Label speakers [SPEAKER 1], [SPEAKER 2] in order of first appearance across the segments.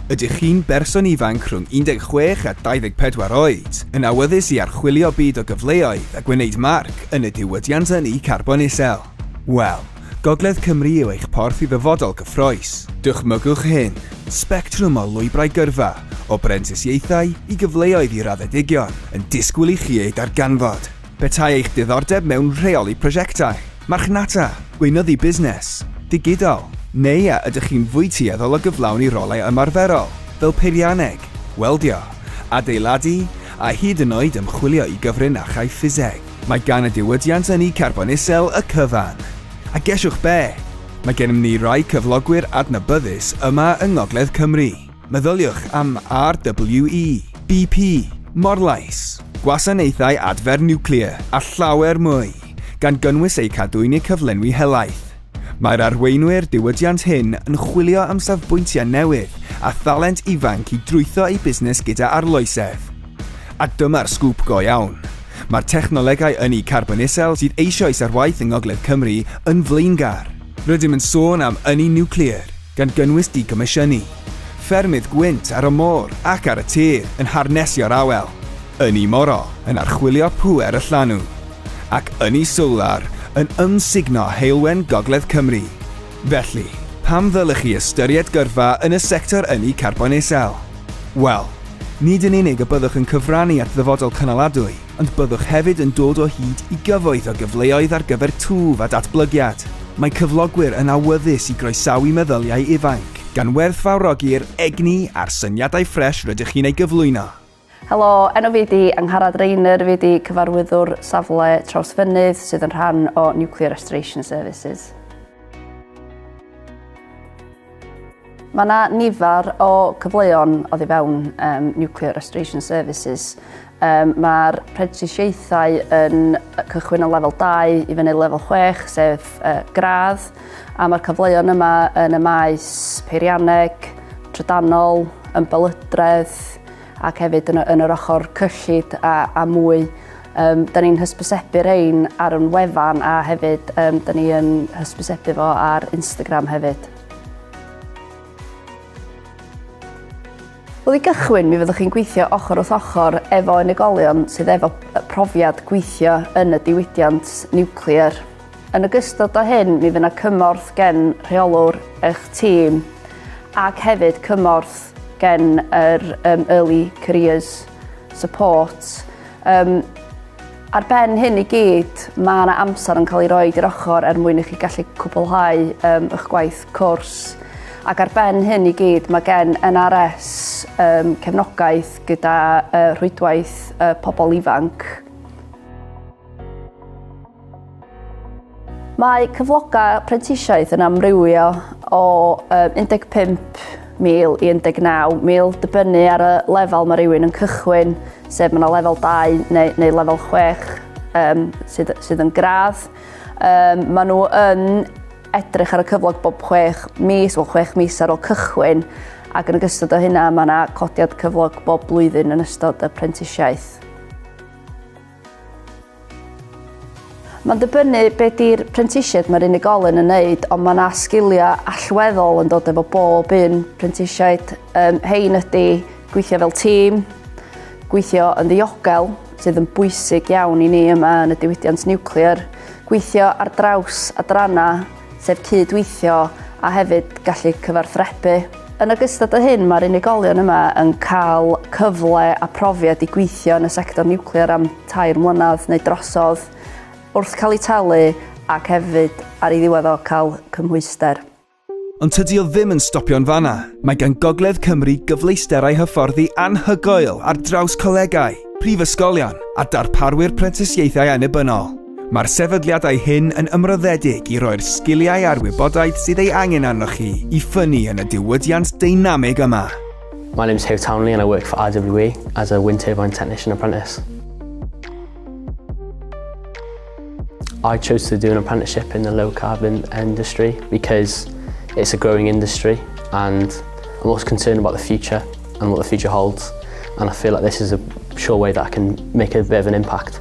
[SPEAKER 1] Ydych chi'n berson ifanc rhwng 16 a 24 oed, yn awyddus i archwilio byd o gyfleoedd a gwneud marc yn y diwydiant ynni carbon isel? Wel, Gogledd Cymru yw eich porth i ddyfodol gyffroes. Dychmygwch hyn, sbectrwm o lwybrau gyrfa, o brentisiaethau i gyfleoedd i raddedigion, yn disgwyl i chi eu darganfod. Petai eich diddordeb mewn rheoli prosiectau, marchnata, gweinyddu busnes, digidol, neu a ydych chi'n fwy tueddol o gyflawni rolau ymarferol, fel peirianneg, weldio, adeiladu, a hyd yn oed ymchwilio i gyfrin a chaiff ffiseg, mae gan y diwydiant ynni carbon isel y cyfan. A gesiwch be? Mae gennym ni rai cyflogwyr adnabyddus yma yng Ngogledd Cymru. Meddyliwch am RWE, BP, Morlais, Gwasanaethau Adfer Niwclear a llawer mwy, gan gynnwys eu cadw yn eu cyflenwi helaeth. Mae'r arweinwyr diwydiant hŷn yn chwilio am safbwyntiau newydd a thalent ifanc i drwytho eu busnes gyda arloesedd. A dyma'r sgŵp go iawn, mae'r technolegau ynni carbon isel sydd eisoes ar waith yng Ngogledd Cymru yn flaengar. Rydym yn sôn am ynni niwclear, gan gynnwys digomisiynu ffermydd gwynt ar y môr ac ar y tir yn harnesio'r awel, ynni moro yn archwilio pŵer y llanw, ac ynni solar yn ymsugno heulwen gogledd Cymru. Felly, pam ddylech chi ystyried gyrfa yn y sector ynni carbon isel? Wel, nid yn unig y byddwch yn cyfrannu at ddyfodol cynaladwy, Ond byddwch hefyd yn dod o hyd i gyfoeth o gyfleoedd ar gyfer twf a datblygiad. Mae cyflogwyr yn awyddus i groesawu meddyliau ifainc, gan werthfawrogi'r egni a'r syniadau ffres rydych chi'n ei gyflwyno. Helo, enw
[SPEAKER 2] fi ydi Angharad Rayner, fi ydi cyfarwyddwr safle Trawsfynydd sydd yn rhan o Nuclear Restoration Services. Mae yna nifer o cyfleon oddi fewn um, Nuclear Restoration Services. Um, Mae'r prentisiaethau yn cychwyn o lefel 2 i fyny lefel 6, sef uh, gradd, a mae'r cyfleon yma yn y maes peirianneg, trydanol, ymbelydredd, ac hefyd yn, yn yr ochr cyllid a, a mwy. Um, da ni'n hysbysebu rein ar yn wefan a hefyd um, da ni'n hysbysebu fo ar Instagram hefyd. Wel i gychwyn, mi fyddwch chi'n gweithio ochr wrth ochr efo unigolion sydd efo profiad gweithio yn y diwydiant niwclear. Yn ogystal â hyn mi fydd yna cymorth gen rheolwr eich tîm ac hefyd cymorth gen yr um, Early Careers Support. Um, ar ben hyn i gyd, mae yna amser yn cael ei roi i'r ochr er mwyn i chi gallu cwblhau um, eich gwaith cwrs. Ac ar ben hyn i gyd, mae gen NRS um, cefnogaeth gyda uh, rhwydwaith uh, pobl ifanc. Mae cyflogau prentisiaeth yn amrywio o 15,000 i 19,000 dibynnu ar y lefel mae rhywun yn cychwyn, sef mae yna lefel 2 neu, neu lefel 6 um, sydd, sydd yn gradd. Um, mae nhw yn edrych ar y cyflog bob 6 mis, wel 6 mis ar ôl cychwyn, ac yn ystod o hynna mae yna codiad cyflog bob blwyddyn yn ystod y prentisiaeth. Mae'n dibynnu be di'r prentisiaid mae'r unigolyn yn neud ond mae 'na sgiliau allweddol yn dod efo bob un prentisiaid. Yym rhein ydi gweithio fel tîm, gweithio yn ddiogel, sydd yn bwysig iawn i ni yma yn y diwydiant niwclear, gweithio ar draws adrannau, sef cyd-weithio a hefyd gallu cyfarthrebu. Yn ogystal â hyn, mae'r unigolion yma yn cael cyfle a profiad i gweithio yn y sector niwclear am tair mlynedd neu drosodd, wrth cael eu talu ac hefyd, ar ei ddiwedd o, cael cymhwyster. Ond tydi
[SPEAKER 1] o ddim yn stopio yn fan'na. Mae gan Gogledd Cymru gyfleusterau hyfforddi anhygoel ar draws colegau, prifysgolion a darparwyr prentisiaethau annibynnol. Mae'r sefydliadau hyn yn ymroddedig i roi'r sgiliau a'r wybodaeth sydd ei angen arnoch chi i ffynnu yn y diwydiant deinamig yma. My name's Hugh
[SPEAKER 3] Townley and I work for RWE as a wind turbine technician apprentice. I chose to do an apprenticeship in the low carbon industry because it's a growing industry and I'm also concerned about the future and what the future holds and I feel like this is a sure way that I can make a bit of an impact.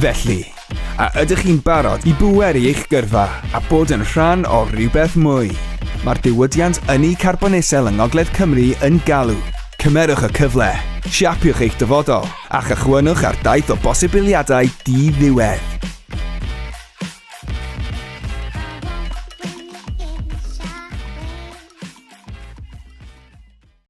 [SPEAKER 3] Felly,
[SPEAKER 1] a ydych chi'n barod i bweru eich gyrfa a bod yn rhan o rywbeth mwy? Mae'r diwydiant ynni carbon isel yng Ngogledd Cymru yn galw. Cymerwch y cyfle, siapiwch eich dyfodol, a chychwynnwch ar daith o bosibiliadau di-ddiwedd.